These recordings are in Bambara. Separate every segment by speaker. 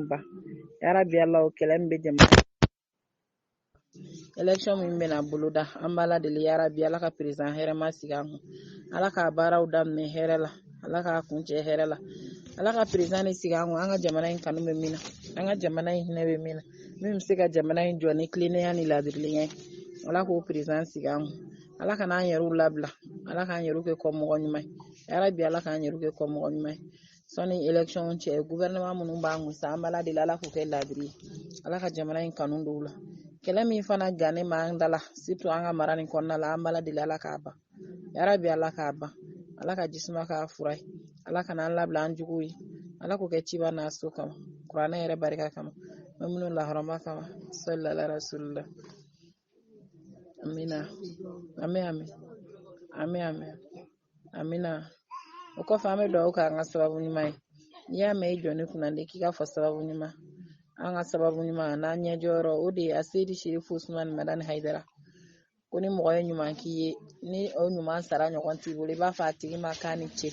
Speaker 1: ba yarabi ala o kɛlɛ min bɛ jamana election min bɛna boloda an b'ala deli yarabi ala ka président hɛrɛma sigi an kun ala k'a baaraw daminɛ hɛrɛ la ala k'a kuncɛ hɛrɛ la ala ka président de sigi an kun an ka jamana in kanu bɛ min na an ka jamana in hinɛ bɛ min na min bɛ se ka jamana in jɔ ni tilennenya ni laadiriya ye ala k'o président sigi an kun ala kana an yɛrɛw labila ala k'an yɛrɛw kɛ kɔmɔgɔ ɲuman ye yarabi ala k'an yɛrɛw kɛ kɔmɔgɔ ɲuman ye sani election cɛ gouvernement minnu b'an kun sa an b'ala deli ala k'u kɛ laadiri ye ala ka jamana in kanu don u la kɛlɛ min fana gannen b'an da la surtout an ka mara nin kɔnɔna la an b'ala deli ala k'a ban yarabi ala k'a ban ala ka ji suma k'a fura ye ala kana an labila an juguw ye ala k'o kɛ ciba n'a so kama kuranɛ yɛrɛ barika kama bɛ minnu lahɔrɔma kama salala rasulila amina ami ami ami ami amina o kɔfɛ an bɛ dugawu kɛ an ka sababu ɲuman ye n'i y'a mɛn i jɔ ne kunna de k'i k'a fɔ sababu ɲuman an ka sababu ɲuman n'an ɲɛjɔyɔrɔ o de ye aseyidi serifu usumani madani hayidara ko ni mɔgɔ ye ɲuman k'i ye ni o ɲuman sara ɲɔgɔn t'i bolo i b'a fɔ a tigi ma k'a ni ce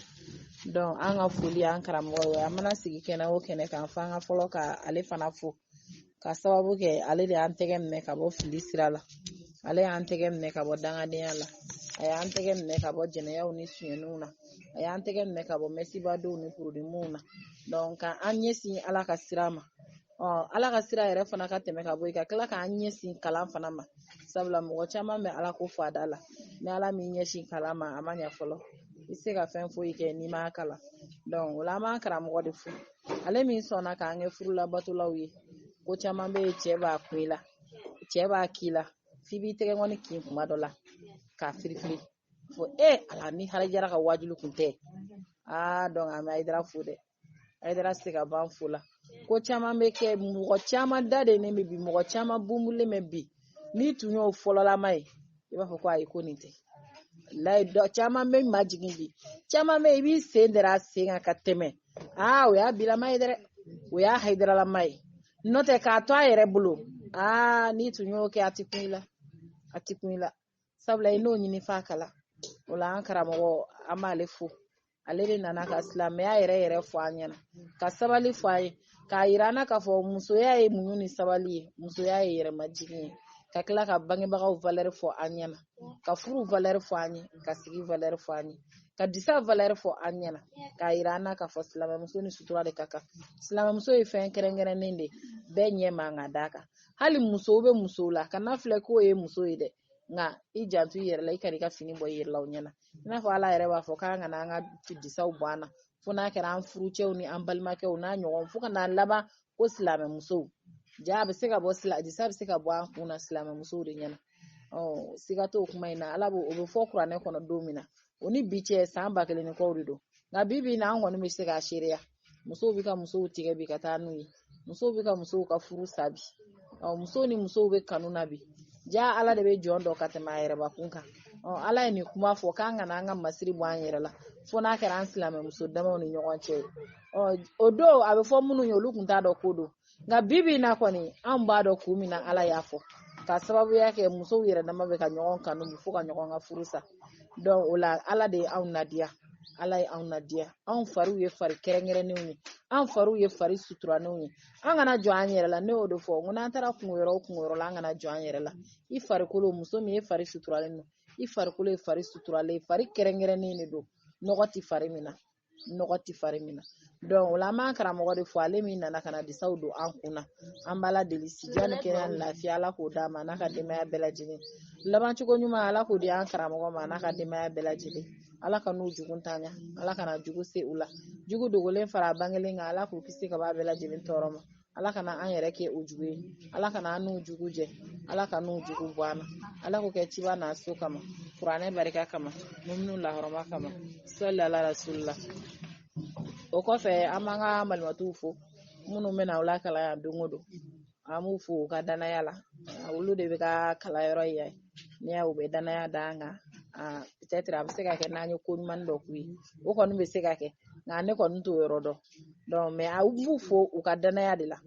Speaker 1: donc an ka foli an karamɔgɔ ye an mana sigi kɛnɛ o kɛnɛ kan fo an ka fɔlɔ ka ale fana fo ka sababu kɛ ale de y'an tɛgɛ minɛ ka bɔ fili sira la ale y'an tɛgɛ minɛ ka bɔ dangadenya la a y'an tɛgɛ minɛ ka bɔ jɛnɛyaw ni suɲɛniw na a y'an tɛgɛ minɛ ka bɔ mɛsibadenw ni porodimuw na ka an ɲɛsin ala ka sira ma ala ka sira yɛrɛ fana ka tɛmɛ ka bɔ yen ka tila k'an ɲɛsin kalan fana ma sabula mɔgɔ caman bɛ ala ko fɔ da la ni ala m'i ɲɛsin kalan ma a ma ɲɛ fɔlɔ i tɛ se ka fɛn foyi kɛ n'i m'a kalan o la an b'an karamɔgɔ de fo ale min sɔnna k'an kɛ furulabatolaw ye ko caman bɛ yen cɛ b'a kun i la cɛ b'a k'i la f'i b'i tɛgɛkɔni kin tuma dɔ la k'a firifiri fɔ e ala ni hayidara ka waajuli kun tɛ aa donc an bɛ hayidara fo dɛ hayidara se ka ban fo la ko caman bɛ kɛ mɔgɔ caman da delen bɛ bi mɔgɔ caman bunbulen bɛ bi n'i tun y'o fɔlɔlama ye i b'a fɔ ko ayi ko nin tɛ layi dɔ caman bɛ majigin bi caman bɛ i b'i sen dara a sen kan ka tɛmɛ aa o y'a bilama ye dɛ o y'a hayidaralama ye n'o tɛ k'a to a yɛrɛ bolo aa n'i tun y'o kɛ a tɛ kun i la a tɛ kun i la sabula i n'o ɲini f'a kala o la an karamɔgɔ an b'ale fo ale de nana ka silamɛya yɛrɛ yɛrɛ fɔ an ɲɛna ka sabali fɔ an ye k'a yira an na k'a fɔ musoya ye muɲu ni sabali ye musoya ye yɛrɛmajigin ye ka tila ka bangebagaw valeur fɔ an ɲɛna ka furu valeur fɔ an ye ka sigi valeur fɔ an ye ka disa valeur fɔ an ɲɛna k'a yira an na k'a fɔ silamɛmuso ni sutura de ka kan silamɛmuso ye fɛn kɛrɛnkɛrɛnnen de bɛɛ ɲɛ man ka d'a kan hali musow bɛ musow la kan'a filɛ k'o ye muso ye dɛ nka i janto i yɛrɛ la i kana i ka fini bɔ i yɛrɛ la o ɲɛna i n'a fɔ ala yɛrɛ b'a fɔ k'an kana an ka disaw bɔ an na fo n'a kɛra an furucɛw ni an balimakɛw n'a ɲɔgɔn fo ka n'a laban ko silamɛmusow ja a bɛ se ka bɔ disa bɛ se ka bɔ an kun na silamɛmusow de ɲɛna ɔ siga t'o kuma in na ala b'o o bɛ fɔ kuranɛ kɔnɔ don min na o ni bi cɛ san ba kelen ni kɔw de don nka bi bi in na an kɔni bɛ se k'a seereya musow bɛ ka musow tigɛ bi ka taa n'u ye musow bɛ ka musow ka furu sa bi ɔ musow ni musow bɛ kanu na bi ja ala de bɛ jɔn dɔn ka tɛmɛ a yɛrɛbakun kan ɔ ala ye nin kuma fɔ k'an kana an ka masiri bɔ an yɛrɛ la fo n'a kɛra an silamɛmuso damaw ni ɲɔgɔn cɛ ye ɔ o don a bɛ fɔ minnu ye olu tun t'a dɔn ko don nka bi bi in na kɔni an b'a dɔn kun min na ala y'a fɔ ka sababuya kɛ musow yɛrɛ dama bɛ ka ɲɔgɔn kanu fo ka ɲɔgɔn ka furu sa donc o la ala de ye anw nadiya ala ye anw nadiya anw fariw ye fari kɛrɛnkɛrɛnnenw ye an fariw ye fari suturalenw ye an kana jɔn an yɛrɛ la ne y'o de fɔ n ko n'an taara kungo yɔrɔ o kungo yɔrɔ la an kana jɔn an yɛrɛ la i farikolo muso min ye fari suturalen don i farikolo ye fari suturalen fari kɛrɛnkɛrɛnnen de don nɔgɔ ti fari min na nɔgɔ ti fari min na donc o la an b'an karamɔgɔ de fo ale min nana ka na disaw don an kun na an b'ala deli sijan ni kɛnɛya ni lafiya ala k'o d'a ma n'a ka denbaya bɛɛ lajɛlen laban cogo ɲuman ala k'o di an karamɔgɔ ma n'a ka denbaya bɛɛ lajɛlen ala kan'u jugu tanya ala kana jugu se u la jugu dogolen fara bangelen kan ala k'u kisi ka bɔ a bɛɛ lajɛlen tɔɔrɔ ma ala kana an yɛrɛ kɛ u jugu ye ala kana an n'u jugu jɛ ala kan'u jugu bɔ an na ala k'o kɛ ciba n'a so kama kuranɛ barika kama muminu lahɔrɔma kama sɔli ala rasulila o kɔfɛ an b'an ka malimatuw fo minnu bɛ na u lakalan yan don o don an b'u fo u ka danaya la olu de bɛ ka kalanyɔrɔ yan n'i y'a u bɛ danaya da an kan a bɛ se ka kɛ n'an ye ko ɲuman dɔ k'u ye o kɔni bɛ se ka kɛ nka ne kɔni t'o yɔrɔ dɔn donc mais an b'u fo u ka danaya de la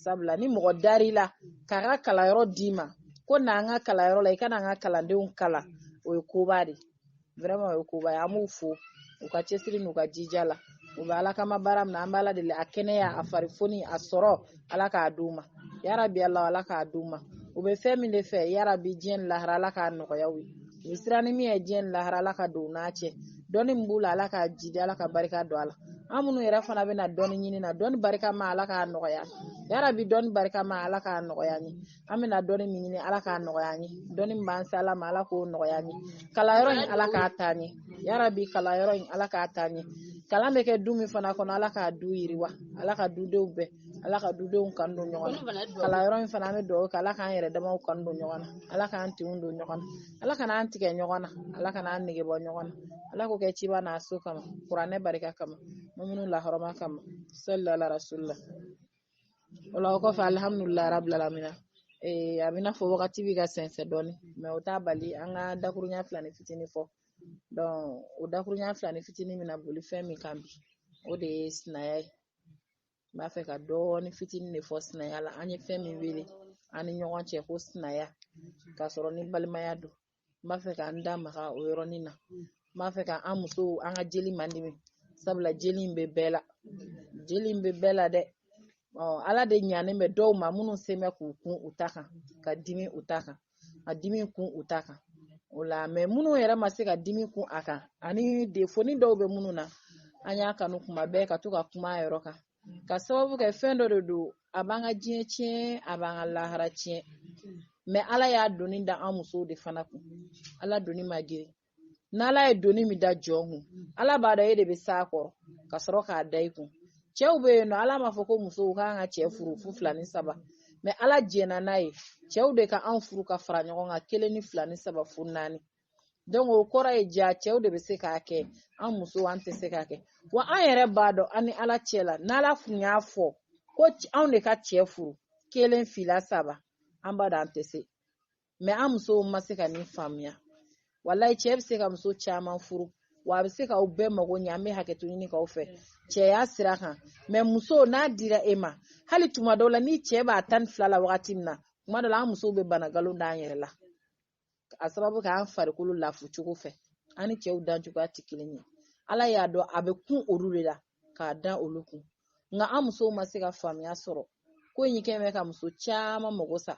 Speaker 1: sabula ni mɔgɔ dar'i la k'a ka kalanyɔrɔ d'i ma ko na an ka kalanyɔrɔ la i ka na an ka kalandenw kalan o ye koba de vraiment o ye koba ye an b'u fo u ka cɛsiri n'u ka jija la u bɛ ala kama baara min na an bɛ ala deli a kɛnɛya a farifoni a sɔrɔ ala k'a di u ma yarabi ala ala k'a di u ma u bɛ fɛn min de fɛ yarabi diɲɛ ni lahara ala k'a nɔgɔya u ye u bɛ siran ni min ye diɲɛ ni lahara ala ka don u n'a cɛ dɔnni min b'u la ala k'a jiidi ala ka barika don a la an minnu yɛrɛ fana bɛ na dɔnni ɲini na dɔnni barikama ala k'a nɔgɔya yarabi dɔnni barikama ala k'a nɔgɔya an ye an bɛna dɔnni min ɲini ala k'a nɔgɔya an ye dɔnni min b'an se ala ma ala k'o nɔgɔya an ye kalanyɔrɔ in ala k'a taa ɲɛ yarabi kalanyɔrɔ in ala k'a taa ɲɛ kalan bɛ kɛ du min fana kɔnɔ ala k'a du yiriwa ala ka dudenw bɛɛ ala ka dudenw kan don ɲɔgɔn na kalanyɔrɔ in fana an bɛ dugawu kɛ ala k'an yɛrɛ damaw kan don ɲɔgɔn na ala k'an tinw don ɲɔgɔn na ala kana an tigɛ ɲɔgɔn na ala kana an nege bɔ ɲɔgɔn na ala k'o kɛ ciba n'a so kama kuranɛ barika kama muminu lahɔrɔma kama salila rasulila o la o kɔfɛ alihamudulilayi rabila lamina ee a bɛ n'a fɔ wagati bɛ ka sɛnsɛn dɔɔni mɛ o t'a bali an ka dakurunya filanin fitinin fɔ donc o dakurunya filanin fitinin bɛna boli fɛn min kan bi o de ye sinaya ye n b'a fɛ ka dɔɔni fitinin de fɔ sinaya la an ye fɛn min wele an ni ɲɔgɔn cɛ ko sinaya k'a sɔrɔ ni balimaya don n b'a fɛ ka n da maga o yɔrɔnin na n b'a fɛ ka an musow an ka jeli madimi sabula jeli in bɛ bɛɛ la jeli in bɛ bɛɛ la dɛ ala de ɲanen bɛ dɔw ma minnu sen bɛ k'u kun u ta kan ka dimi u ta kan ka dimi kun u ta kan o la mɛ minnu yɛrɛ ma se ka dimi kun a kan ani defoni dɔw bɛ minnu na an y'a kanu kuma bɛɛ ka to ka kuma a yɔrɔ kan k'a sababu kɛ fɛn dɔ de don a b'an ka diɲɛ tiɲɛ a b'an ka lahara tiɲɛ mɛ ala y'a doni da an musow de fana kun ala doni man girin n'ala ye doni min da jɔn kun ala b'a dɔn e de bɛ s'a kɔrɔ ka sɔrɔ k'a da i kun cɛw bɛ yen nɔ ala m'a fɔ ko musow k'an ka cɛ furu fo fila ni saba mɛ ala jɛnna n'a ye cɛw de ka anw furu ka fara ɲɔgɔn kan kelen ni fila ni saba fo naani donc o kɔrɔ ye ja cɛw de bɛ se k'a kɛ an musow an tɛ se k'a kɛ wa an yɛrɛ b'a dɔn an ni ala cɛ la n'ala kun y'a fɔ ko anw de ka cɛ furu kelen fila saba an b'a dɔn an tɛ se mɛ an musow ma se ka nin faamuya walayi cɛ bɛ se ka muso caman furu wa a bɛ se k'aw bɛɛ mago ɲɛ an bɛ hakɛto ɲini k'aw fɛ cɛya sira kan mɛ muso n'a dira e ma hali tuma dɔw la ni cɛ b'a tan ni fila la wagati min na tuma dɔw la an musow bɛ bana nkalon d'an yɛrɛ la a sababu kɛ an farikolo lafu cogo fɛ an ni cɛw dan cogoya tɛ kelen ye ala y'a dɔn a bɛ kun olu de la k'a da olu kun nka an musow ma se ka faamuya sɔrɔ ko in kɛlen bɛ ka muso caman mago sa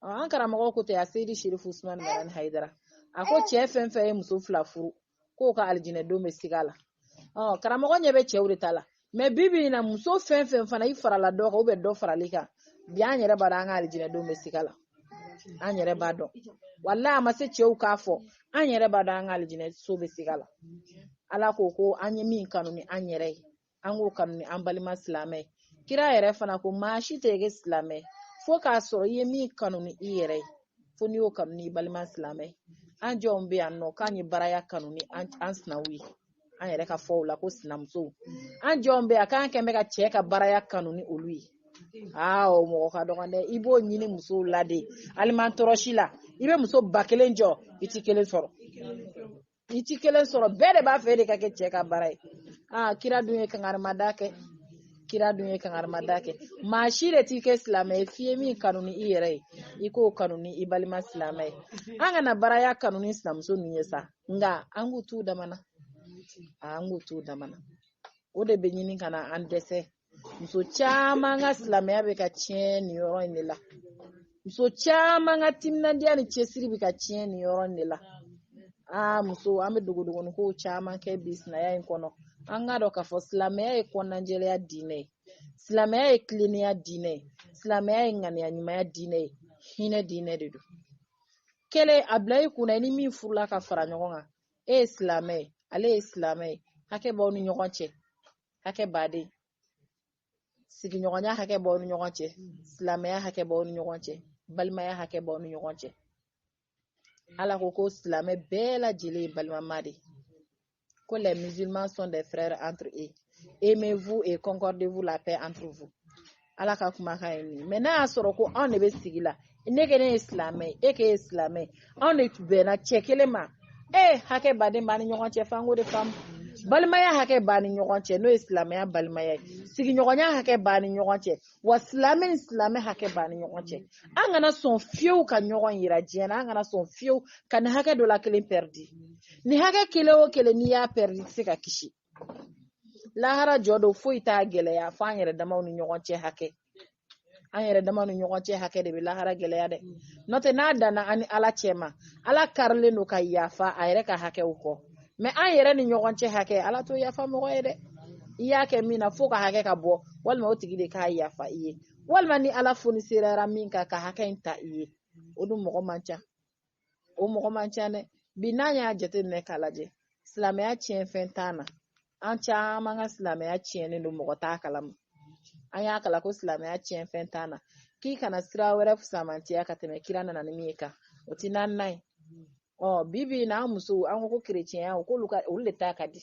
Speaker 1: an karamɔgɔ ko tɛ aseyidi serifu usumani madani hayidara a ko cɛ fɛn fɛn ye muso fila furu k'o ka alijinɛ don bɛ siga la karamɔgɔ ɲɛ bɛ cɛw de ta la mɛ bi bi in na muso fɛn fɛn fana i farala dɔ kan ou bien dɔ faral'i kan bi an yɛrɛ b'a dɔn an ka alijinɛ don bɛ siga la an yɛrɛ b'a dɔn walayi a ma se cɛw k'a fɔ an yɛrɛ b'a dɔn an ka alijinɛ so bɛ siga la ala ko ko an ye min kanu ni an yɛrɛ ye an k'o kanu ni an balima silamɛ kira yɛrɛ fana ko maa si tɛ kɛ silamɛ fo k'a sɔrɔ i ye min kanu ni i yɛrɛ ye fo n'i y'o kanu ni i balima silamɛ an jɔnw bɛ yan nɔ k'an ye baraya kanu ni an sinaw ye an yɛrɛ ka fɔw la ko sinamusow an jɔnw bɛ yan k'an kɛn bɛ ka cɛ ka baraya kanu ni olu ye aa o mɔgɔ ka dɔgɔ dɛ i b'o ɲini musow la de aliman tɔrɔsi la i bɛ muso ba kelen jɔ i ti kelen sɔrɔ i ti kelen sɔrɔ bɛɛ de b'a fɛ e de ka kɛ cɛ ka bara ye aa kira dun ye kangarimada kɛ kira dun ye kangarimada kɛ maa si de ti kɛ silamɛ ye f'i ye min kanu ni i yɛrɛ ye i k'o kanu ni i balima silamɛ ye an kana baraya kanu ni sinamuso ninnu ye sa nka an k'u t'u damana an k'u t'u damana o de bɛ ɲini ka na an dɛsɛ muso caman ka silamɛya bɛ ka tiɲɛ nin yɔrɔ in de la muso caman ka timinandiya ni cɛsiri bɛ ka tiɲɛ nin yɔrɔ in de la aa muso an bɛ dogodogoni kow caman kɛ bi sinaya in kɔnɔ an k'a dɔn k'a fɔ silamɛya ye kɔnɔnajɛlenya diinɛ ye silamɛya ye tilennenya diinɛ ye silamɛya ye ŋaniya ɲumanya diinɛ ye hinɛ diinɛ de don kelen a bila i kunna i ni min furula ka fara ɲɔgɔn kan e ye silamɛ ye ale ye silamɛ ye hakɛ b'aw ni ɲɔgɔn cɛ hakɛba de sigiɲɔgɔnya hakɛ b'aw ni ɲɔgɔn cɛ silamɛya hakɛ b'aw ni ɲɔgɔn cɛ balimaya hakɛ b'aw ni ɲɔgɔn cɛ ala ko ko silamɛ bɛɛ lajɛlen ye balimama de ko les musulmans sont des frères entre eux aimez-vous et concordez-vous la paix entre vous ala ka kumakan ye nin mɛ n'a y'a sɔrɔ ko anw de bɛ sigi la ne ko ne ye silamɛ ye e k'e ye silamɛ ye anw de bɛnna cɛ kelen ma e hakɛba de b'an ni ɲɔgɔn cɛ f'an k'o de faamu balimaya hakɛ b'an ni ɲɔgɔn cɛ n'o ye silamɛya balimaya ye sigiɲɔgɔnya hakɛ b'an ni ɲɔgɔn cɛ wa silamɛ ni silamɛ hakɛ b'an ni ɲɔgɔn cɛ an kana sɔn fiyewu ka ɲɔgɔn yira diɲɛ na an kana sɔn fiyewu ka nin hakɛ dɔ la kelen pɛridi nin hakɛ kelen o kelen n'i y'a pɛridi i tɛ se ka kisi lahara jɔ don foyi t'a gɛlɛya fo an yɛrɛ damaw ni ɲɔgɔn cɛ hakɛ an yɛrɛ damaw ni ɲɔgɔn cɛ hakɛ de bɛ lahara gɛlɛya dɛ n'o tɛ n'a danna an ni ala cɛ ma ala karilen don ka yafa a yɛrɛ ka hakɛw kɔ mɛ an yɛrɛ ni ɲɔgɔn cɛ hakɛ ala t'o yafa mɔgɔ ye dɛ i y'a kɛ min na f'o ka hakɛ ka bɔ walima o tigi de k'a yafa i ye walima ni ala fonisereyara min kan ka hakɛ in ta i ye o dun mɔgɔ man ca o mɔgɔ man ca dɛ bi n'an y'a jateminɛ k'a lajɛ silamɛya tiɲɛ fɛn tan na an caman ka silamɛya tiɲɛnen don mɔgɔ t'a kalama an y'a kalan ko silamɛya tiɲɛ fɛn tan na k'i kana sira wɛrɛ fusamantiya ka tɛmɛ kira nana ni min ye kan o ti naaninan ye ɔ bi bi in na an musow an ko ko kerecɛnya o k'olu ka olu de ta ka di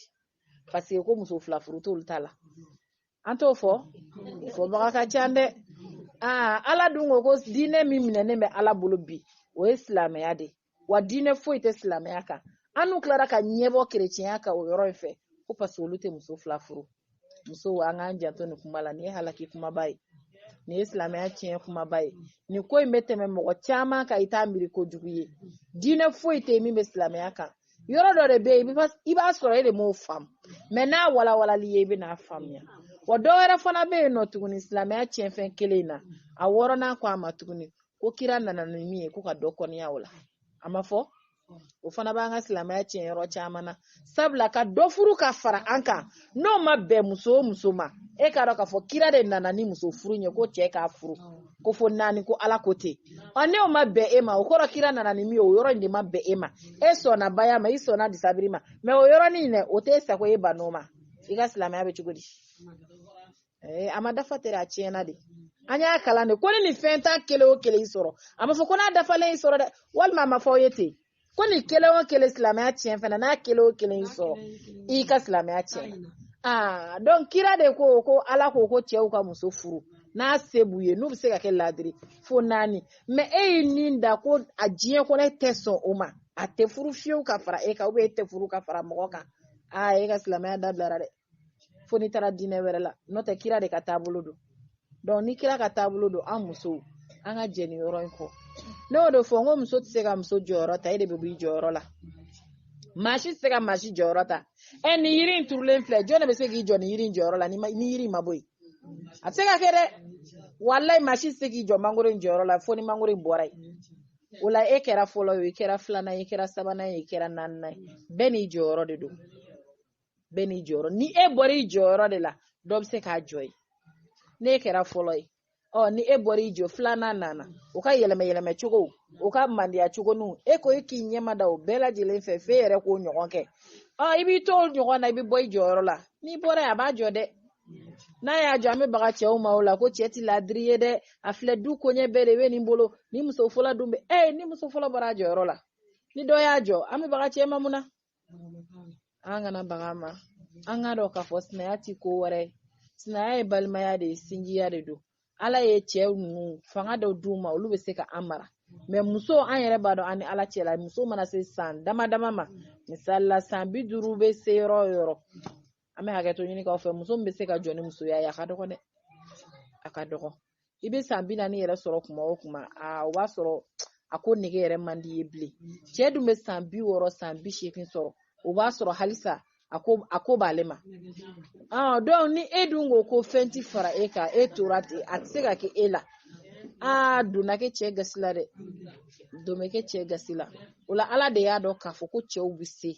Speaker 1: paseke ko muso fila furu t'olu ta la an t'o fɔ fɔbaga ka ca dɛ aa ala dun ko ko diinɛ min minɛnen bɛ ala bolo bi o ye silamɛya de wa diinɛ foyi tɛ silamɛya kan an n'u tilara ka ɲɛbɔ kerecɛnya kan o yɔrɔ in fɛ ko paseke olu tɛ muso fila furu musow an k'an janto nin kuma la nin ye halaki kumaba ye nin ye silamɛya tiɲɛ kumaba ye nin ko in bɛ tɛmɛ mɔgɔ caman kan i t'a miiri kojugu ye diinɛ foyi tɛ yen min bɛ silamɛya kan yɔrɔ dɔ de bɛ yen i b'a sɔrɔ e de m'o faamu mɛ n'a walawalali ye i bɛ n'a faamuya wa dɔ wɛrɛ fana bɛ yen nɔ tuguni silamɛya tiɲɛfɛn kelen in na a wɔɔrɔnan ko a ma tuguni ko kira nana ni min ye ko ka dɔ kɔniya o la a ma fɔ o fana b'an ka silamɛya tiɲɛ yɔrɔ caman na sabula ka dɔ furu ka fara an kan n'o ma bɛn muso o muso ma e k'a dɔn k'a fɔ kira de nana ni muso furu ye ko cɛ k'a furu ko fo naani ko ala ko ten ɔ n'o ma bɛn e ma o kɔrɔ kira nana ni min ye o yɔrɔ in de ma bɛn e ma e sɔnna baya ma i sɔnna disabiri ma mɛ o yɔrɔnin dɛ o t'e sago e ban'o ma i ka silamɛya bɛ cogo di eh, a ma dafa tɛ a tiɲɛna de an y'a kalan de ko ni nin fɛn tan kelen o kelen y'i sɔrɔ a ma fɔ ko n'a dafalen y'i sɔrɔ dɛ walima a ma fɔ aw ye ten ko nin kelen o kelen silamɛya tiɲɛ fana n'a kelen o kelen y'i sɔrɔ i ka silamɛya tiɲɛna aa dɔnku kira de ko ko ala ko ko cɛw ka muso furu n'a se b'u ye n'u bɛ se ka kɛ laadiri fo naani mɛ e y'i nin da ko a diɲɛ kɔnɔ e tɛ sɔn o ma a tɛ furu fiyewu ka fara e kan ubiyɛn e tɛ furu ka fara mɔgɔ kan aa e ka silamɛya dabilara dɛ fo n'i taara diinɛ wɛrɛ la n'o tɛ kira de ka taabolo don dɔnku ni kira ka taabolo don an musow an ka jɛn nin yɔrɔ in kɔ ne y'o de fɔ n ko muso tɛ se ka muso jɔyɔrɔ ta e de bɛ b'i jɔyɔrɔ la maa si tɛ se ka maa si jɔyɔrɔ ta ɛ nin yiri in turulen filɛ jɔn de bɛ se k'i jɔ nin yiri in jɔyɔrɔ la ni yiri in ma bɔ yen a tɛ se ka kɛ dɛ walayi maa si tɛ se k'i jɔ mangoro in jɔyɔrɔ la fo ni mangoro in bɔra yen o la e kɛra fɔlɔ ye i kɛra filanan ye i kɛra sabanan ye i kɛra naaninan ye bɛɛ n'i jɔyɔrɔ de don bɛɛ n'i jɔyɔrɔ ni e bɔra i jɔyɔrɔ de la dɔ bɛ se k'a jɔ yen n'e kɛra fɔlɔ ye ɔ ni e bɔra i jɔ filanan nana o ka yɛlɛma yɛlɛma cogo o ka mandiya cogo ni e ko e k'i ɲɛmada o bɛɛ lajɛlen fɛ f'e yɛrɛ k'o ɲɔgɔn kɛ ɔ i b'i to o ɲɔgɔn na i bɛ bɔ i jɔyɔrɔ la n'i bɔra yen a b'a jɔ dɛ n'a y'a jɔ an bɛ baga cɛw ma o la ko cɛ ti ladiri ye dɛ a filɛ du koɲɛ bɛɛ de bɛ nin bolo ni muso fɔlɔ dun bɛ ɛ ni muso fɔlɔ bɔra a jɔyɔrɔ la ni dɔ y'a jɔ an bɛ baga cɛ ma mun na an kana bag'a ma an k'a dɔn k'a fɔ sinaya ti ko wɛrɛ ye sinaya ye balimaya de ye sinjiya de don ala ye cɛ ninnu fanga dɔ d'u ma olu bɛ se ka an mara mɛ muso an yɛrɛ b'a dɔn an ni ala cɛ la muso mana se san dama dama ma misali la san bi duuru bɛ se yɔrɔ o yɔrɔ an bɛ hakɛto ɲini k'aw fɛ muso min bɛ se ka jɔ ni musoya ye a ka dɔgɔ dɛ a ka dɔgɔ i bɛ san bi naani yɛrɛ sɔrɔ kuma o kuma aa o b'a sɔrɔ a ko nege yɛrɛ man di ye bilen cɛ dun bɛ san bi wɔɔrɔ san bi seegin sɔrɔ o b'a sɔrɔ halisa a ko b'ale ma aa donc ni e dun ko ko fɛn ti fara e kan e tora ten a tɛ se ka kɛ e la aa donna kɛ cɛ gasi la dɛ don bɛ kɛ cɛ gasi la o la ala de y'a dɔn k'a fɔ ko cɛw bɛ se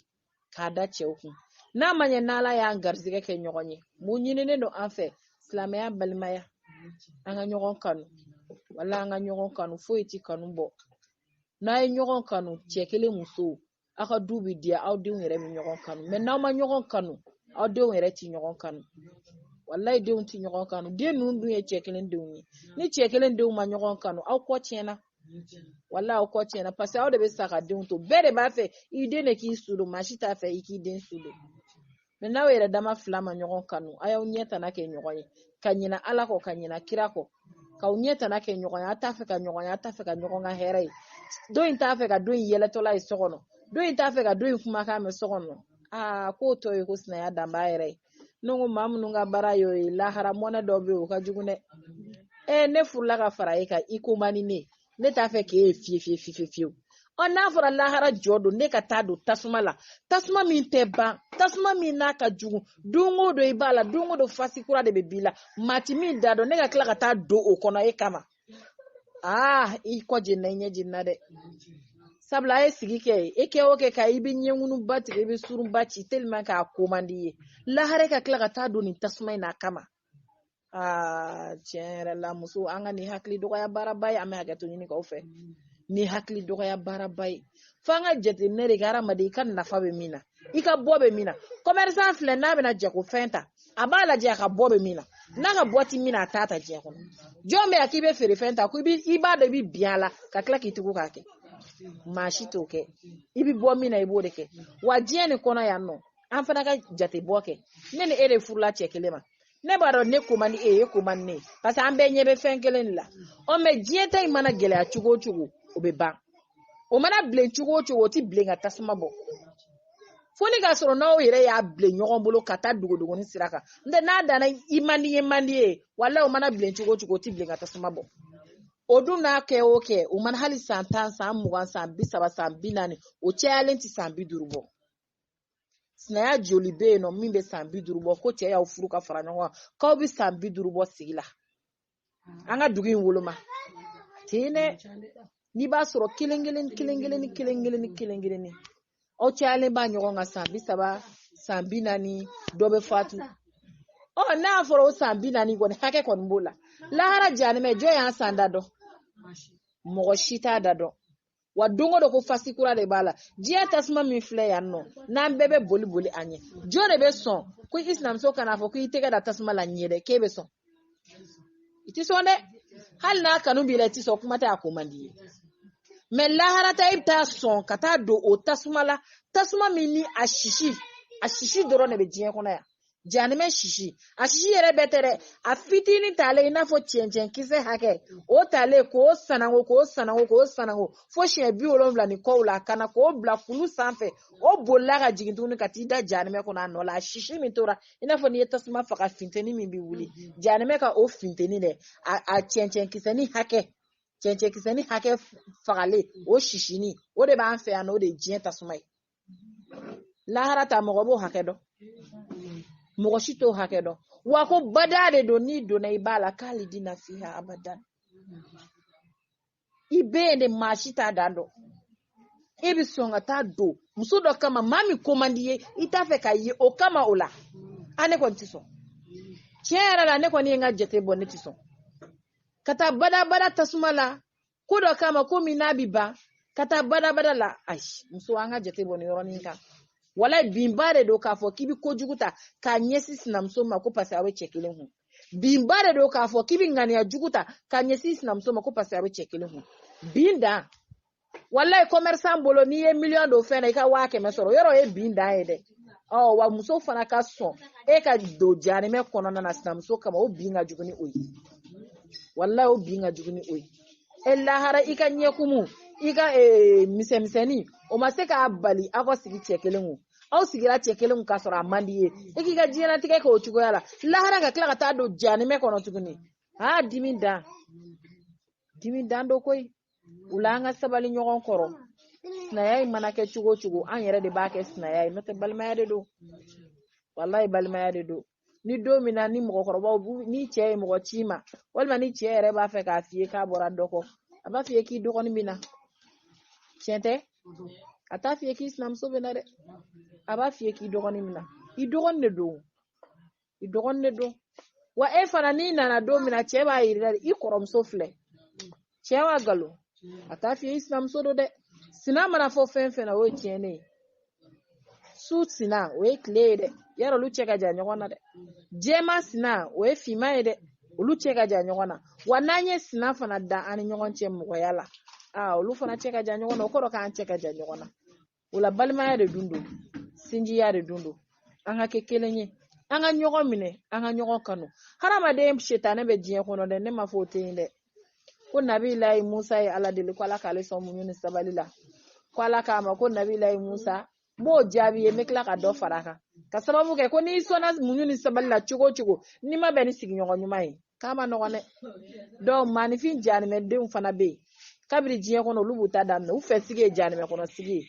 Speaker 1: k'a da cɛw kun n'a ma ɲɛ n'ala y'an garizigɛ kɛ ɲɔgɔn ye mun ɲininen don an fɛ silamɛya balimaya an ka ɲɔgɔn kanu wala an ka ɲɔgɔn kanu foyi ti kanu bɔ n'a ye ɲɔgɔn kanu cɛ kelen muso aw ka du bi diya aw denw yɛrɛ bɛ ɲɔgɔn kanu mais n'aw ma ɲɔgɔn kanu aw denw yɛrɛ ti ɲɔgɔn kanu walayi denw ti ɲɔgɔn kanu den ninnu dun ye cɛ kelen denw ye ni cɛ kelen denw ma ɲɔgɔn kanu aw kɔ tiɲɛna wala aw kɔ tiɲɛna parce que aw de bɛ sa ka denw to bɛɛ de b'a fɛ i den de k'i su don maa si t'a fɛ i k'i den su don mais n'aw yɛrɛ dama fila ma ɲɔgɔn kanu a y'aw ɲɛ tana kɛ ɲɔgɔn ye ka ɲina ala kɔ ka ɲina kira kɔ k'aw ɲɛ tana kɛ ɲɔgɔn ye a t'a fɛ ka ɲɔgɔn ye a t'a fɛ ka ɲɔgɔn ka hɛrɛ ye dɔ in t'a fɛ ka dɔ in yɛlɛtɔla ye so kɔnɔ dɔ in t'a fɛ ka dɔ in kumakan mɛn so kɔnɔ aa k'o tɔ ye ko sinaya danbaa yɛrɛ ye ne ko maa minnu ka baara y'o ye lahara mɔnɛ dɔ bɛ yen o ka jugu dɛ ee ne furula ka fara e kan i ko man di ne ne t'a fɛ k'e ye fiye fiye fiye fiyewu ɔ n'a fɔra lahara jɔ don ne ka taa don tasuma la tasuma min tɛ ban tasuma min n'a ka jugu don o don i b'a la don o don fasi kura de bɛ b'i la maa ti min da dɔn ne ka tila ka taa don o kɔnɔ e kama aa ah, i kɔ jenna i ɲɛ jenna dɛ sabula a ye sigi kɛ e kɛ o kɛ ka i bɛ ɲɛŋunuba tigɛ i bɛ surunba ci tellement k'a ko man di ye lahara ka tila ka taa don nin tasuma in na kama aa ah, tiɲɛ yɛrɛ la muso an ka nin hakili dɔgɔya baaraba ye an bɛ hakɛto ɲini k'aw fɛ nin hakili dɔgɔya baaraba ye fo an ka jateminɛ de kɛ hadamaden i ka nafa bɛ min na i ka bɔ bɛ min na commerçant filɛ n'a bɛna jagofɛn ta a b'a lajɛ a ka bɔ bɛ min na n'a ka bɔ ti min na a t'a ta diɲɛ kɔnɔ jɔn bɛ yan k'i bɛ feerefɛn ta ko i b'a dɔn i bɛ bin a la ka tila k'i tugu k'a kɛ maa si t'o kɛ i bɛ bɔ min na i b'o de kɛ wa diɲɛ nin kɔnɔ yan nɔ an fana ka jate bɔ kɛ ne ni e de furula cɛ kelen ma ne b'a dɔn ne ko man di e ye e ko man di ne ye parce que an bɛɛ ɲɛ bɛ fɛn kelen de la ɔ mais diɲɛ ta in mana gɛlɛya cogo o cogo o bɛ ban o mana bilen cogo o cogo o tɛ bilen ka tasuma bɔ fo ni k'a sɔrɔ n'aw yɛrɛ y'a bilen ɲɔgɔn bolo ka taa dogodogoni sira kan n tɛ n'a danna i man di ye man di ye wala o mana bilen cogo o cogo o tɛ bilen ka tasuma bɔ o dun n'a kɛ o kɛ o mana hali san tan san mugan san bi saba san bi naani o cayalen tɛ san bi duuru bɔ sinaya joli bɛ yen nɔ min bɛ san bi duuru bɔ ko cɛ y'aw furu ka fara ɲɔgɔn kan k'aw bɛ san bi duuru bɔ sigi la an ka dugu in woloma ten dɛ n'i b'a sɔrɔ kelen kelen kelen kelen ni kelen kelen ni kelen kelen ni aw cayalen b'a ɲɔgɔn kan san bi saba san bi naani dɔ bɛ fatu ɔ n'a fɔra o san bi naani kɔni hakɛ kɔni b'o la lahara janimɛ jɔn y'a san da dɔn mɔgɔ si t'a da dɔn wa don o don ko fasi kura de b'a la diɲɛ tasuma min filɛ yan nɔ n'an bɛɛ bɛ boli boli a ɲɛ jɔn de bɛ sɔn ko i sinamuso ka n'a fɔ ko i tɛgɛ da tasuma la n ye dɛ k'e bɛ sɔn i tɛ sɔn dɛ hali n'a kanu b'i la i tɛ sɔn kuma tɛ a ko man d'i ye mɛ lahara ta i bɛ taa sɔn ka taa don o tasuma la tasuma min ni a sisi a sisi dɔrɔn de bɛ diɲɛ kɔnɔ yan janimɛ sisi a sisi yɛrɛ bɛɛ tɛ dɛ a fitinin talen i n'a fɔ cɛncɛn kisɛ hakɛ o talen k'o sanango k'o sanango k'o sanango fo siɲɛ bi wolonwula ni kɔw la ka na k'o bila kulu sanfɛ o bolila ka jigin tuguni ka t'i da janimɛ kɔnɔ a nɔ la a sisi min tora i n'a fɔ n'i ye tasuma faga finteni min bɛ wuli janimɛ ka o finteni dɛ a cɛncɛn kisɛni hakɛ cɛncɛn kisɛni hakɛ fagalen o sisini o de b'an fɛ yan n'o de ye diɲɛ tasuma ye lahara ta mɔgɔ b'o hakɛ dɔn mɔgɔ si t'o hakɛ dɔn wa ko bada de don n'i donna i b'a la kalidina fiha abadan i bɛ yen de maa si t'a dan dɔn e bɛ sɔn ka taa don muso dɔ kama maa min ko man d'i ye i t'a fɛ k'a ye o kama o la a ne kɔni tɛ sɔn tiɲɛ yɛrɛ la ne kɔni ye n ka jate bɔ ne tɛ sɔn ka taa badabada tasuma la ko dɔ kama ko min n'a bi ban ka taa badabada la ayi muso an ka jate bɔ ni yɔrɔnin kan wala binba de don k'a fɔ k'i bi kojugu ta k'a ɲɛsin sinamuso ma ko paseke aw bɛ cɛ kelen kun binba de don k'a fɔ k'i bi ŋaniya jugu ta k'a ɲɛsin sinamuso ma ko paseke aw bɛ cɛ kelen kun bin dan walayi commerçant bolo n'i ye miliyɔn don fɛn na i ka waa kɛmɛ sɔrɔ yɔrɔ ye bin dan ye dɛ ɔ wa muso fana ka sɔn e ka don janimɛ kɔnɔna na sinamuso kama o bin ka jugu ni o ye walayi o bin ka jugu ni o ye e lahara i ka ɲɛkumu i ka eh, misɛnmisɛnni o ma se k'a bali aw ka sigi cɛ kelen kun aw sigira cɛ kelen kun k'a sɔrɔ a man d'i ye i k'i ka diɲɛlatigɛ kɛ o cogoya la lahara ka tila ka taa don janimɛ kɔnɔ tuguni aa dimi dan dimi dan don koyi o la an ka sabali ɲɔgɔn kɔrɔ sinaya in mana kɛ cogo o cogo an yɛrɛ de b'a kɛ sinaya ye n'o tɛ balimaya de don walayi balimaya de don ni don min na ni mɔgɔkɔrɔbaw ni cɛ ye mɔgɔ c'i ma walima ni cɛ yɛrɛ b'a fɛ k'a f'i ye k'a bɔra dɔ kɔ a b'a f'i ye k'i dɔgɔnin bɛ na tiɲɛ tɛ a t'a f'i ye k'i sinamuso bɛ na dɛ a b'a f'i ye k'i dɔgɔnin bɛ na i dɔgɔnin de don i dɔgɔnin de don wa e fana n'i nana don min na cɛ b'a yir'i la i kɔrɔmuso filɛ cɛ wa nkalon a t'a f'i ye i sinamuso don dɛ sina mana fɔ fɛn fɛn na o ye tiɲɛnen ye su sina o ye tile ye dɛ yarɔ olu cɛ ka jan ɲɔgɔn na dɛ jɛma sina o ye finman ye dɛ olu cɛ ka jan ɲɔgɔn na wa n'an ye sina fana da an ni ɲɔgɔn cɛ mɔgɔya la aa olu fana cɛ ka jan ɲɔgɔn na o kɔrɔ k'an cɛ ka jan ɲɔgɔn na o la balimaya de dun don sinjiya de dun don an ka kɛ kelen ye an ka ɲɔgɔn minɛ an ka ɲɔgɔn kanu hadamaden setanɛ bɛ diɲɛ kɔnɔ dɛ ne ma fɔ o tɛ yen dɛ ko nabilayi musa ye ala deli ko ala k'ale sɔn muɲu ni sabali la ko ala k'a ma ko nabilayi musa n b'o jaabi ye n bɛ tila ka dɔ fara a kan ka sababu kɛ ko n'i sɔnna muɲu ni sabali la cogo o cogo n'i ma bɛn ni sigiɲɔgɔn ɲuman ye k'a man nɔgɔn dɛ donc maanifin janimɛ denw fana bɛ yen kabiri diɲɛ kɔnɔ olu b'u ta daminɛ u fɛ sigi ye janimɛ kɔnɔ sigi ye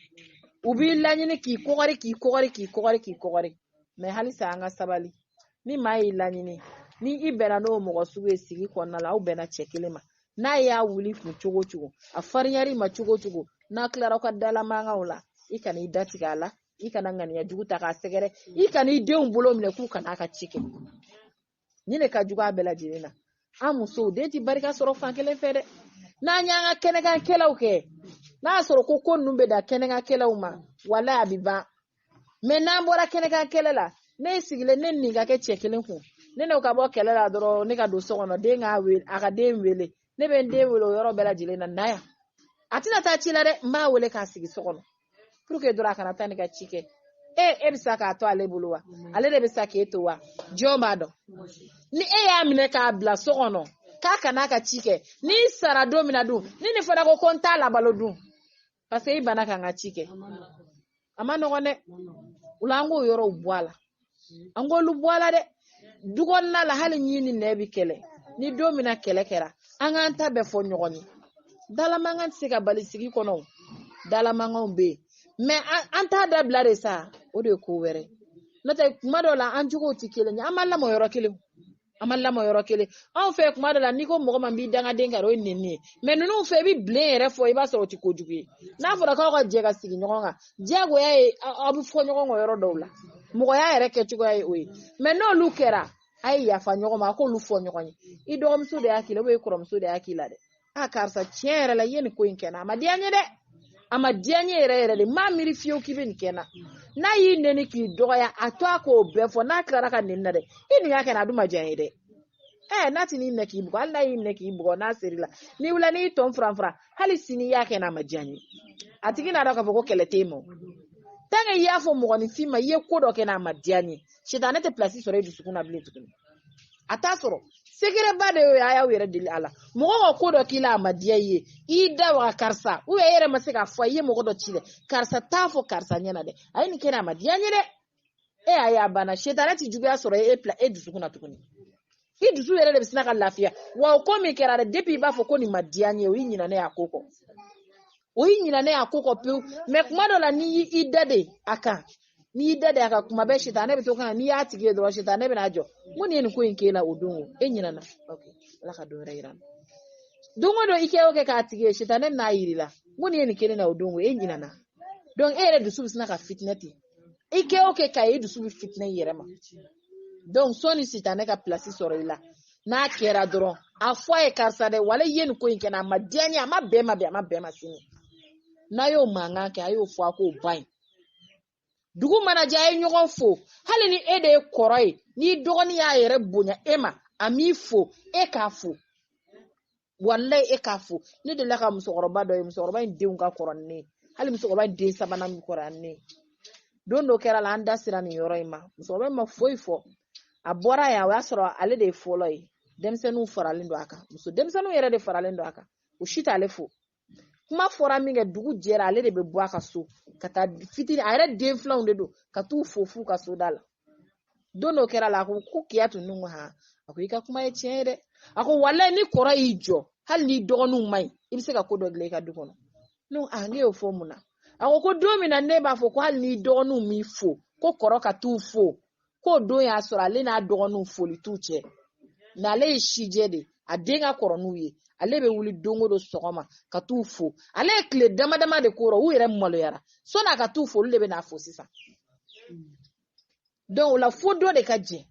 Speaker 1: u b'i laɲini k'i kɔgɔri k'i kɔgɔri k'i kɔgɔri k'i kɔgɔri mais halisa an ka sabali ni maa y'i laɲini ni i bɛnna n'o mɔgɔ sugu ye sigi kɔnɔna la aw bɛnna cɛ kelen ma n'a y'a wul'i kun cogo cogo a farinyar'i ma cogo cogo n'a tilara ka dalamankanw la i kana i datigɛ a la i kana ŋaniya jugu ta k'a sɛgɛrɛ i kana i denw bolo minɛ k'u kana a ka ci kɛ ni ne ka jugu a bɛɛ lajɛlen na an musow den ti barika sɔrɔ fan kelen fɛ dɛ n'an y'an ka kɛnɛkankɛlɛw kɛ n'a sɔrɔ ko ko ninnu bɛ dan kɛnɛkankɛlɛw ma wala a bɛ ban mais n'an bɔra kɛnɛkankɛlɛ la ne sigilen ne nin ka kɛ cɛ kelen kun ne n'o ka bɔ kɛlɛ la dɔrɔn ne ka don so kɔnɔ den k'a wele a ka den wele ne bɛ n den wele o yɔrɔ bɛɛ lajɛlen na na yan a tɛna taa ci la dɛ n b'a wele k'a sigi so kɔnɔ pour que dɔrɔn a kana taa ne ka ci kɛ e e bɛ sa k'a to ale bolo wa ale de bɛ sa k'e to wa jɔn b'a dɔn ni e y'a minɛ k'a bila so kɔnɔ k'a kana a ka ci kɛ n'i sara don min na dun ni nin fana ko ko n t'a labalo dun parce que i banna ka n ka ci kɛ a man nɔgɔn dɛ o la an k'o yɔrɔw bɔ a la an k'olu bɔ a la dɛ du kɔnɔna la hali ɲin ni nɛn bi kɛlɛ ni don min na kɛlɛ kɛra an k'an ta bɛɛ fɔ ɲɔgɔn ye dalamankan tɛ se ka bali sigi kɔnɔ dalamankanw bɛ yen mais an t'a dabila de sa o de ye ko wɛrɛ n'o tɛ kuma dɔw la an jogow tɛ kelen ye an ma lamɔ yɔrɔ kelen an ma lamɔ yɔrɔ kelen anw fɛ kuma dɔ la n'i ko mɔgɔ ma n b'i dangaden kari o ye nɛni ye mais ninnu fɛ i bɛ bilen yɛrɛ fɔ i b'a sɔrɔ o tɛ kojugu ye n'a fɔra k'aw ka jɛ ka sigi ɲɔgɔn kan diyagoya ye aw bɛ fɔ ɲɔgɔn kɔ yɔrɔ dɔw la mɔgɔya yɛrɛ kɛcogoya ye o ye mais n'olu kɛra a ye yafa ɲɔgɔn ma a k'olu fɔ ɲɔgɔn ye i dɔgɔmuso de y'a k'i la ou bien i kɔrɔmuso de y'a k'i la dɛ a karisa tiɲɛ yɛrɛ la i ye nin ko in kɛ n na a ma diya n ye dɛ a ma diya n ye yɛrɛ yɛrɛ de n m'a miiri fiyewu k'i bɛ nin kɛ n na n'a y'i nɛni k'i dɔgɔya a to a k'o bɛɛ fɔ n'a tilara ka nɛni na dɛ i nin y'a kɛ n na a dun ma diya n ye dɛ ɛɛ n'a ti n'i minɛ k'i bugɔ hali n'a y'i minɛ k'i bugɔ n'a ser'i la n'i wulila n'i tɔn furanfuran hali sini i y'a kɛ n na a ma diya n ye a tigi n'a dɔn k'a fɔ ko kɛlɛ tɛ yen mɛ tanke i y'a fɔ mɔgɔninfin ma i ye ko dɔ kɛ n na a ma diya n ye sitanɛ tɛ pilasi sɔrɔ i dusukun na bilen tuguni a t'a sɔrɔ sekɛrɛba de y'o ye a y'aw yɛrɛ deli a la mɔgɔ ka ko dɔ k'i la a ma diya i ye i da waga karisa u e yɛrɛ ma se k'a fɔ i ye mɔgɔ dɔ ci dɛ karisa t'a fɔ karisa ɲɛna dɛ a ye nin kɛ n na a ma diya n ye dɛ e y'a ye a banna sitanɛ tɛ juguya sɔrɔ e pla e dusukun na tuguni i dusu yɛrɛ de bɛ sina ka lafiya wa o ko min kɛra dɛ depi i b'a fɔ ko nin ma diya n ye o y'i ɲinɛnen y'a ko kɔ o y'i ɲinɛnen y'a ko kɔ pewu mɛ kuma dɔ la n'i y'i da de a kan n'i y'i da de a kan kuma bɛɛ sitanɛ bɛ to kan n'i y'a tigi ye dɔrɔn sitanɛ bɛna jɔ mun de ye nin ko in k'e la o don o e ɲinɛna ala ka don wɛrɛ yir'an na don o don i kɛ o kɛ k'a tigi ye sitanɛ bɛn'a yir'i la mun de ye nin k'e la o don o e ɲinɛna donc e yɛrɛ dusu bɛ sina ka fitinɛ ten i kɛ o kɛ k'a ye dusu bɛ fitinɛ i yɛrɛ ma donc sɔni sitanɛ ka pilasi sɔrɔ i la n'a kɛra dɔrɔn a fɔ a ye karisa dɛ wala i ye nin ko in kɛ n na a ma diya n ye a ma bɛn n ma bi a ma bɛn n ma sini n'a y'o mankan kɛ a y'o fɔ a k'o ban ye dugu mana jɛ a ye ɲɔgɔn fo hali ni e de ye kɔrɔ ye n'i dɔgɔnin y'a yɛrɛ bonya e ma a m'i fo e k'a fo walayi e k'a fo ne delila ka musokɔrɔba dɔ ye musokɔrɔba in denw ka kɔrɔ ni ne ye hali musokɔrɔba in den sabanan min kɔrɔ ni ne ye don dɔ kɛra la an da sera nin yɔrɔ in ma musokɔrɔba in ma foyi fɔ a bɔra yan o y'a sɔrɔ ale de ye fɔlɔ ye denmisɛnninw faralen don a kan muso denmisɛnninw yɛrɛ de faralen don a kan o si t'ale fo kuma fɔra min kɛ dugu jɛra ale de bɛ bɔ a ka so ka taa fitini a yɛrɛ den filanw de don ka t'u fo f'u ka so da la don dɔ kɛra la a ko ko kiyatu n ko han a ko i ka kuma ye tiɲɛ ye dɛ a ko walayi ni kɔrɔ y'i jɔ hali n'i dɔgɔninw man ɲi i bɛ se ka ko dɔ dilan i ka du kɔnɔ ne ko han e y'o fɔ mun na a ko ko don min na n'e b'a fɔ ko hali n'i dɔgɔninw m'i fo ko kɔrɔ ka t'u fo k'o don y'a sɔrɔ ale n'a dɔgɔninw foli t'u cɛ n'ale ye sijɛ de a den ka kɔrɔ n'u ye ale bɛ wuli don o don sɔgɔma ka t'u fo ale ye tile dama dama de k'o rɔ u yɛrɛ maloyara sɔni a ka t'u fo olu de bɛ n'a fo sisan donc o la fo dɔ de ka jɛn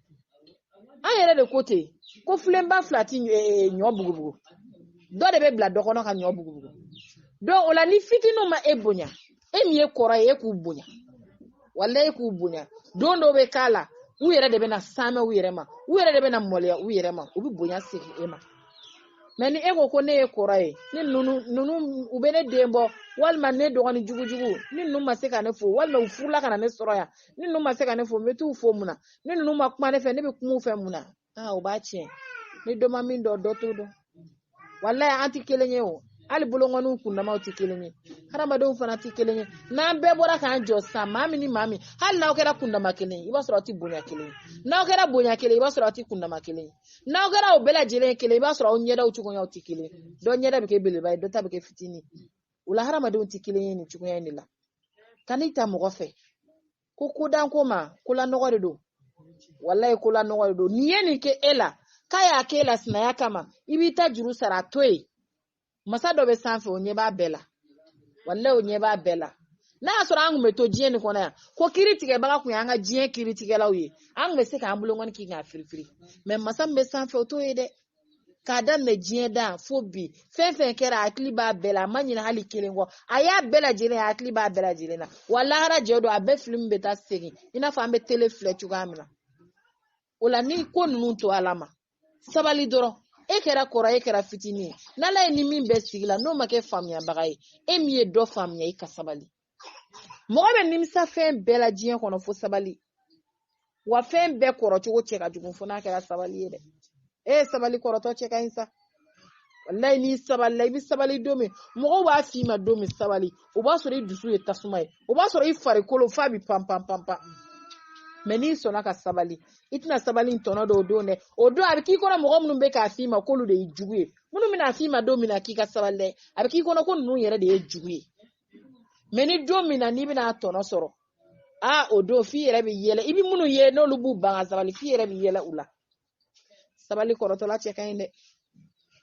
Speaker 1: an yɛrɛ de ko ten ko filenba fila ti eh, eh, ɲɔ bugubugu dɔ de bɛ bila dɔ kɔnɔ ka ɲɔ bugubugu donc o la ni fitininw ma e bonya e min ye kɔrɔ ye e k'u bonya wala e k'u bonya don dɔ bɛ k'a la u yɛrɛ de bɛna saamɛ u yɛrɛ ma u yɛrɛ de bɛna maloya u yɛrɛ ma u bɛ bonya segin e ma mɛ ni e ko ko ne ye kɔrɔ ye ni ninnu ninnu u bɛ ne den bɔ walima ne dɔgɔnin jugujugu ni ninnu ma se ka ne fo walima u furula ka na ne sɔrɔ yan ni ninnu ma se ka ne fo n bɛ t'u fo mun na ni ninnu ma kuma ne fɛ ne bɛ kuma u fɛ mun na aa o b'a tiɲɛ ni dɔ ma min dɔn dɔ t'o dɔn walayi an tɛ kelen ye o hali bolonkɔniw kundamaw tɛ kelen ye hadamadenw fana tɛ kelen ye n'an bɛɛ bɔra k'an jɔ sisan maa min ni maa min hali n'aw kɛra kundama kelen ye i b'a sɔrɔ aw tɛ bonya kelen ye n'aw kɛra bonya kelen ye i b'a sɔrɔ aw tɛ kundama kelen ye n'aw kɛra o bɛɛ lajɛlen ye kelen i b'a sɔrɔ aw ɲɛdaw cogoyaw tɛ kelen ye dɔ ɲɛda bɛ kɛ belebeleba ye dɔ ta bɛ kɛ fitinin o la hadamadenw tɛ kelen ye nin cogoya in de la kan'i ta mɔgɔ fɛ ko ko dan ko ma kolanɔgɔ de don walayi kolanɔgɔ de don nin ye nin kɛ e la k'a y'a k'e la sinaya kama i b'i ta juru sara a to yen masa dɔ bɛ sanfɛ o ɲɛ b'a bɛɛ la walayi o ɲɛ b'a bɛɛ la n'a y'a sɔrɔ an kun bɛ to diɲɛ nin kɔnɔ yan ko kiritigɛbaga kun y'an ka diɲɛ kiritigɛlaw ye an kun bɛ se k'an bolonkɔni k'i k'a firifiri mɛ masa min bɛ sanfɛ o t'o ye dɛ k'a daminɛ diɲɛ dan fo bi fɛn fɛn kɛra a hakili b'a bɛɛ la a ma ɲina hali kelen kɔ a y'a bɛɛ lajɛlen a hakili b'a bɛɛ lajɛlen na wa lahara jɛ don a bɛɛ filimu bɛ taa segin i n'a fɔ an bɛ tele filɛ cogoya min na o la nin ko ninnu to ala ma sabali dɔrɔn e kɛra kɔrɔ e kɛra fitinin ye n'ala y'e ni min bɛn sigi la n'o ma kɛ faamuyabaga ye e min ye dɔ faamuya i ka sabali mɔgɔ bɛ nimisa fɛn bɛɛ la diɲɛ kɔnɔ fo sabali wa fɛn bɛɛ kɔrɔcogo cɛ ka jugu fo n'a kɛra sabali ye dɛ e ye sabali kɔrɔtɔ cɛ ka ɲi sa walayi n'i sabalila i bɛ sabali don min mɔgɔw b'a f'i ma don min sabali o b'a sɔrɔ i dusu ye tasuma ye o b'a sɔrɔ i farikolo f'a bɛ pan pan pan pan mɛ n'i sɔnna ka sabali i tɛna sabali in tɔnɔ dɔn o don dɛ o don a bɛ k'i kɔnɔ mɔgɔ minnu bɛ k'a f'i ma k'olu de ye jugu ye minnu bɛna f'i ma don min na k'i ka sabali dɛ a bɛ k'i kɔnɔ ko ninnu yɛrɛ de ye jugu ye mɛ ni don min na n'i bɛna a tɔnɔ sɔrɔ a o don f'i yɛrɛ bɛ yɛlɛ i bɛ minnu ye n'olu b'u ban ka sabali f'i yɛrɛ bɛ yɛlɛ u la sabali kɔrɔtɔla cɛ ka ɲi dɛ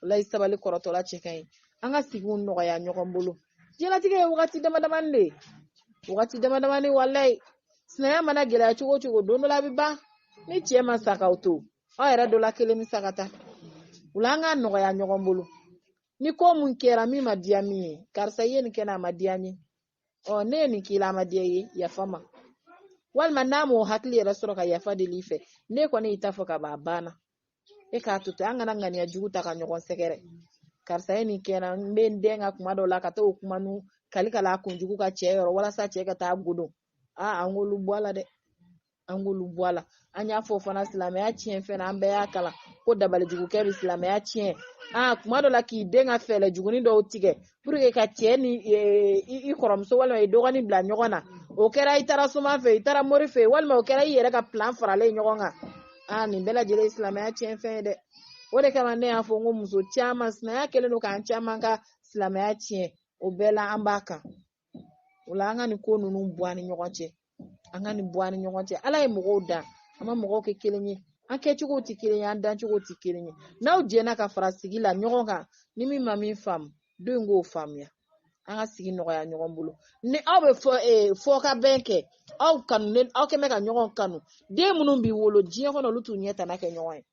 Speaker 1: walayi sabali kɔrɔtɔla cɛ ka ɲi an ka sigiw nɔgɔya ɲɔgɔn bolo diɲɛlatigɛ ye wagati dama damani de ye wagati dama damani walayi sinaya mana gɛlɛya cogo o cogo don dɔ la a bɛ ban ni cɛ ma sa k'aw to aw yɛrɛ dɔ la kelen bɛ sa ka taa o la an k'a nɔgɔya ɲɔgɔn bolo ni ko mun kɛra min ma diya min ye karisa i ye nin kɛ n na a ma diya n ye ɔ ne ye nin k'i la a ma diya i ye yafa n ma walima n'a m'o hakili yɛrɛ sɔrɔ ka yafa deli i fɛ n'e kɔni y'i ta fɔ ka ban a banna e k'a to ten an kana ŋaniya jugu ta ka ɲɔgɔn sɛgɛrɛ karisa ye nin kɛ n na n bɛ n dɛn ka kuma dɔw la ka taa o kuma nu kali ka la a kunjugu ka cɛ yɔrɔ walasa cɛ ka taa godon aa an k'olu bɔ a la dɛ an k'olu bɔ a la an y'a fɔ fana silamɛya tiɲɛ fɛn na an bɛɛ y'a kalan ko dabalijugukɛ bɛ silamɛya tiɲɛ aa kuma dɔ la k'i dɛn ka fɛɛrɛ jugunin dɔw tigɛ puruke ka cɛ ni i kɔrɔmuso walima i dɔgɔnin bila ɲɔgɔn na o kɛra i taara soma fɛ i taara mori fɛ walima o kɛra i yɛrɛ ka pilan faralen ɲɔgɔn kan aa nin bɛɛ lajɛlen ye silamɛya tiɲɛ fɛn ye dɛ o de kama ne y'a fɔ n ko muso caman sinaya kɛlen don k'an caman ka silamɛya tiɲɛ o bɛɛ la an b'a kan o la an ka nin ko ninnu bɔ an ni ɲɔgɔn cɛ an ka nin bɔ an ni ɲɔgɔn cɛ ala ye mɔgɔw dan a ma mɔgɔw kɛ kelen ye an kɛcogo tɛ kelen ye an dancogo tɛ kelen ye n'aw jɛnna ka fara sigi la ɲɔgɔn kan ni min ma min faamu dɔ in k'o faamuya an ka sigi nɔgɔya ɲɔgɔn bolo ni aw bɛ fɔ ee fɔ ka bɛn kɛ aw kanu ne aw kɛ mɛ ka ɲɔgɔn kanu den minnu bi wolo diɲɛ kɔnɔ olu t'u ɲɛ tana kɛ ɲɔgɔn ye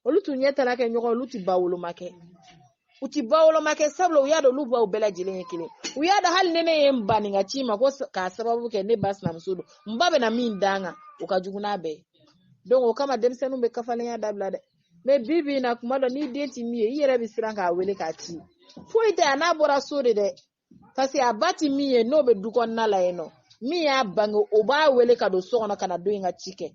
Speaker 1: olu t'u ɲɛ tana kɛ ɲɔgɔn olu tɛ ba woloma kɛ u tɛ ba woloma kɛ sabula u y'a dɔn olu baw bɛɛ lajɛlen ye kelen u y'a dɔn hali ni ne ye n ba nin ka ci ma ko k'a sababu kɛ ne ba sinamuso don n ba bɛna min da n kan o ka jugu n'a bɛɛ ye donc o kama denmisɛnninw bɛ kafalenya dabila dɛ mais bi bi in na kuma dɔ n'i den ti min ye i yɛrɛ bɛ siran k'a wele k'a ci foyi tɛ a n'a bɔra so de dɛ parce que a ba ti min ye n'o bɛ du kɔnɔna la yen nɔ min y'a bange o b'a wele ka don so kɔnɔ kana dɔ in ka ci kɛ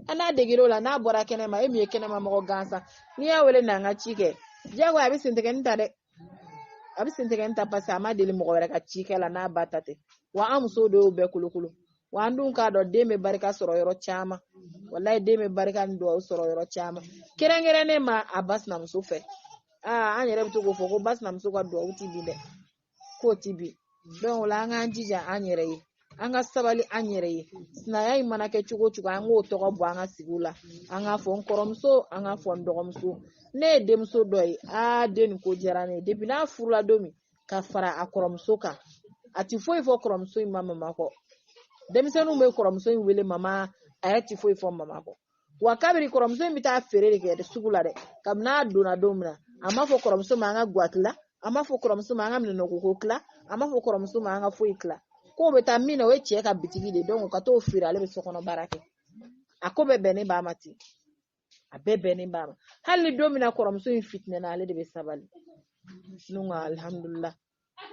Speaker 1: a n'a degera o la n'a bɔra kɛnɛma e min ye kɛnɛma mɔgɔ gansan n'i y'a wele na n ka ci kɛ diyagoya a bɛ sentigɛni ta dɛ a bɛ sentigɛni ta parce que a ma deli mɔgɔ wɛrɛ ka ci kɛ la n'a ba ta tɛ wa an musow de y'o bɛɛ kolokolo wa an dun k'a dɔn den bɛ barika sɔrɔ yɔrɔ caman walayi den bɛ barika ni dugawu sɔrɔ yɔrɔ caman kɛrɛnkɛrɛnnen ma a ba sinamuso fɛ aa an yɛrɛ bɛ to k'o fɔ ko ba sinamuso ka dugawu ti bin dɛ k'o ti bin donc o la an k'an jija an yɛrɛ ye an ka sabali an yɛrɛ ye sinaya in mana kɛ cogo cogo an k'o tɔgɔ bɔ an ka sigiw la an k'a fɔ n kɔrɔmuso an k'a fɔ n dɔgɔmuso ne ye denmuso dɔ ye aa den nin ko diyara ne ye depuis n'a furula don min ka fara a kɔrɔmuso kan a ti foyi fɔ kɔrɔmuso in ma mama kɔ denmisɛnninw bɛ kɔrɔmuso in wele mama a yɛrɛ ti foyi fɔ mama kɔ wa kabiri kɔrɔmuso in bɛ taa feere de kɛ dɛ sugu la dɛ kabini a donna don min na a m'a fɔ kɔrɔmuso ma an ka guwa tila a m'a fɔ kɔrɔmuso ma an ka minɛnnɔgɔko tila a m'a fɔ kɔrɔmuso ma an ka foyi tila k'o bɛ taa min na o ye cɛ ka bitigi de ye ka t'o feere ale bɛ sokɔnɔ baara kɛ a ko bɛɛ bɛnnen b'a ma ten a bɛɛ bɛnnen b'a ma hali ni don min na kɔrɔmuso in fitinɛna ale de bɛ sabali ne ko alihamudulila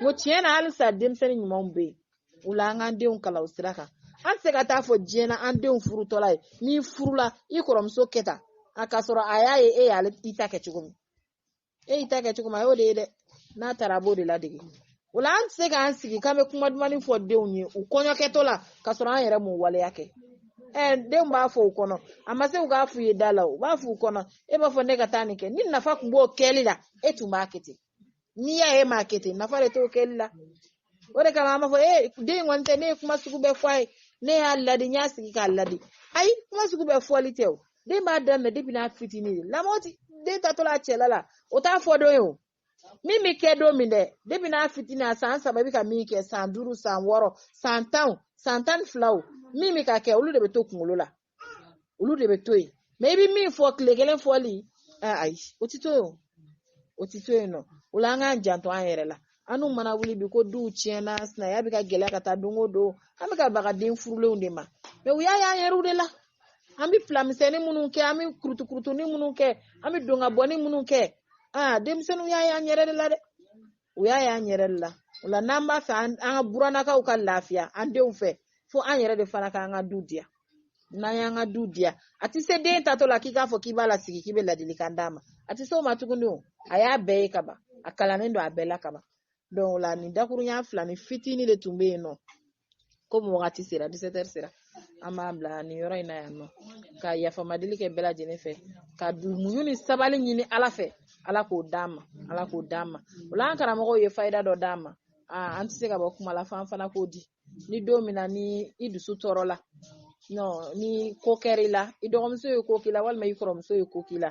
Speaker 1: n ko tiɲɛ na halisa denmisɛnnin ɲumanw bɛ yen o la an k'an denw kalan o sira kan an tɛ se ka t'a fɔ diɲɛ na an denw furutɔla ye n'i furula i kɔrɔmuso kɛ tan a k'a sɔrɔ a y'a ye e yɛrɛ y'i ta kɛ cogo min e y'i ta kɛ cogo min a y'o de ye dɛ n'a taara a b'o de ladege o la an tɛ se k'an sigi k'an bɛ kuma dumani fɔ denw ye u kɔɲɔkɛtɔ la ka sɔrɔ an yɛrɛ m'o waleya kɛ denw b'a fɔ u kɔnɔ a ma se u k'a f'u ye da la u b'a f'u kɔnɔ e b'a fɔ ne ka taa nin kɛ ni nafa tun b'o kɛli la e tun b'a kɛ ten n'i y'a ye i m'a kɛ ten nafa de t'o kɛli la o de kama an b'a fɔ ee den in kɔni tɛ ne ye kuma sugu bɛɛ fɔ a ye ne y'a ladi n y'a sigi k'a ladi ayi kuma sugu bɛɛ fɔli tɛ o de b'a daminɛ depuis n'a fitinin den lamɔ ti den taatɔla a cɛla la o t'a fɔ don ye o min bɛ kɛ don min dɛ depuis n'a fitinin a san saba i bɛ ka min kɛ san duuru san wɔɔrɔ san tan san tan ni fila min bɛ ka kɛ olu de bɛ to kunkolo la olu de bɛ to yen mais i bɛ min fɔ tile kelen fɔli aa ayi o ti to yen o ti to yen nɔ o la an k'an janto an yɛrɛ la anw mana wuli bi ko duw tiɲɛna sinaya bɛ ka gɛlɛya ka taa don o don an bɛ ka baga den furulenw de ma mais u y'a y'an yɛrɛw de la an bɛ plan misɛnnin minnu kɛ an bɛ kurutukurutuni minnu kɛ an bɛ don ka bɔni minnu kɛ aa denmisɛnninw y'a y'an yɛrɛ de la dɛ u y'a y'an yɛrɛ de la o la n'an b'a fɛ an ka buranakaw ka lafiya an denw fɛ fo an yɛrɛ de fana k'an ka du diya n'an y'an ka du diya a tɛ se den taatɔ la k'i k'a fɔ k'i b'a lasigi k'i bɛ ladilikan d'a ma a tɛ se o ma tuguni o a y'a bɛɛ ye kaban a kalannen don a bɛɛ la kaban donc o la nin dakurunya fila ni fitinin de tun bɛ yen nɔ komi wagati sera disetɛri sera an b'a bila nin yɔrɔ in na yan nɔ ka yafamadeli kɛ bɛɛ lajɛlen fɛ ka muɲu ni sabali ɲini ala fɛ ala k'o d'an ma ala k'o d'an ma o la an karamɔgɔw ye fayida dɔ d'an ma an tɛ se ka bɔ kuma la f'an fana k'o di ni don min na ni i dusu tɔɔrɔla nɔ ni ko kɛra i la i dɔgɔmuso ye ko k'i la walima i kɔrɔmuso ye ko k'i la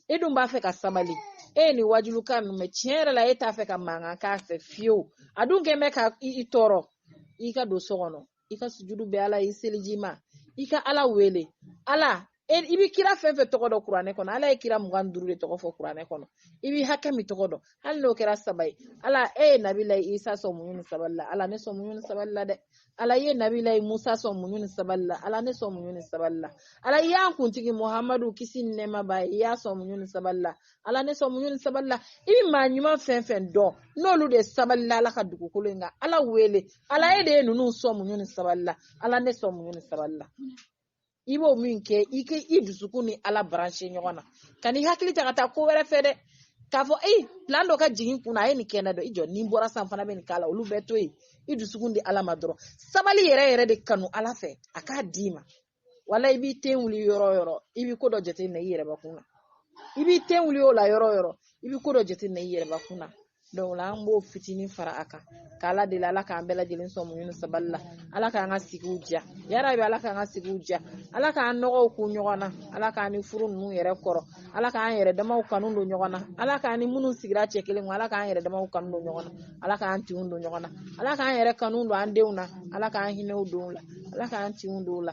Speaker 1: e dun b'a fɛ ka sabali e ye nin wajulukan ninnu mɛn tiɲɛ yɛrɛ la e t'a fɛ ka mankan k'a fɛ fiyewu a dun kɛlen bɛ ka i tɔɔrɔ i ka don so kɔnɔ i ka sujudu bɛ ala i seliji ma i ka ala wele ala i bɛ kira fɛn fɛn tɔgɔ dɔn kuranɛ kɔnɔ ala ye kira mugan ni duuru de tɔgɔ fɔ kuranɛ kɔnɔ i bɛ hakɛ min tɔgɔ dɔn hali n'o kɛra saba ye ala e ye nabila isa sɔn muɲu ni sabali la ala ne sɔn muɲu ni sabali la dɛ ala ye nabila musa sɔn muɲu ni sabali la ala ne sɔn muɲu ni sabali la ala i y'an kuntigi muhamadu kisi ni nɛɛma b'a ye i y'a sɔn muɲu ni sabali la ala ne sɔn muɲu ni sabali la i bi maa ɲuman fɛn fɛn dɔn n'olu de sabalila ala ka dugukolo in kan ala wele ala e de ye ninnu sɔn muɲu ni sabali la ala ne sɔn muɲu ni sabali la i b'o min kɛ i dusukun ni ala branché ɲɔgɔn na kan'i hakili ta ka taa ko wɛrɛ fɛ dɛ k'a fɔ plan dɔ ka jigin kunna a ye nin kɛ n na dɔ i jɔ ni n bɔra sa n fana bɛ nin k'a la olu bɛɛ to yen i dusukun di ala ma dɔrɔn sabali yɛrɛ yɛrɛ de kanu ala fɛ a k'a d'i ma walayi i b'i ten wuli yɔrɔ yɔrɔ i bɛ ko dɔ jateminɛ i yɛrɛbakun na i b'i ten wuli o la yɔrɔ yɔrɔ i bɛ ko dɔ jateminɛ i yɛrɛbakun na donc o la an b'o fitinin fara a kan k'ala deli ala k'an bɛɛ lajɛlen sɔn muɲu ni sabali la ala k'an ka sigiw diya yarabi ala k'an ka sigiw diya ala k'an nɔgɔw kun ɲɔgɔn na ala k'an ni furu ninnu yɛrɛ kɔrɔ ala k'an yɛrɛ damaw kanu don ɲɔgɔn na ala k'an ni minnu sigira cɛ kelen ala k'an yɛrɛ damaw kanu don ɲɔgɔn na ala k'an tinw don ɲɔgɔn na ala k'an yɛrɛ kanu don an denw na ala k'an hinɛw don u la ala k'an tinw don u la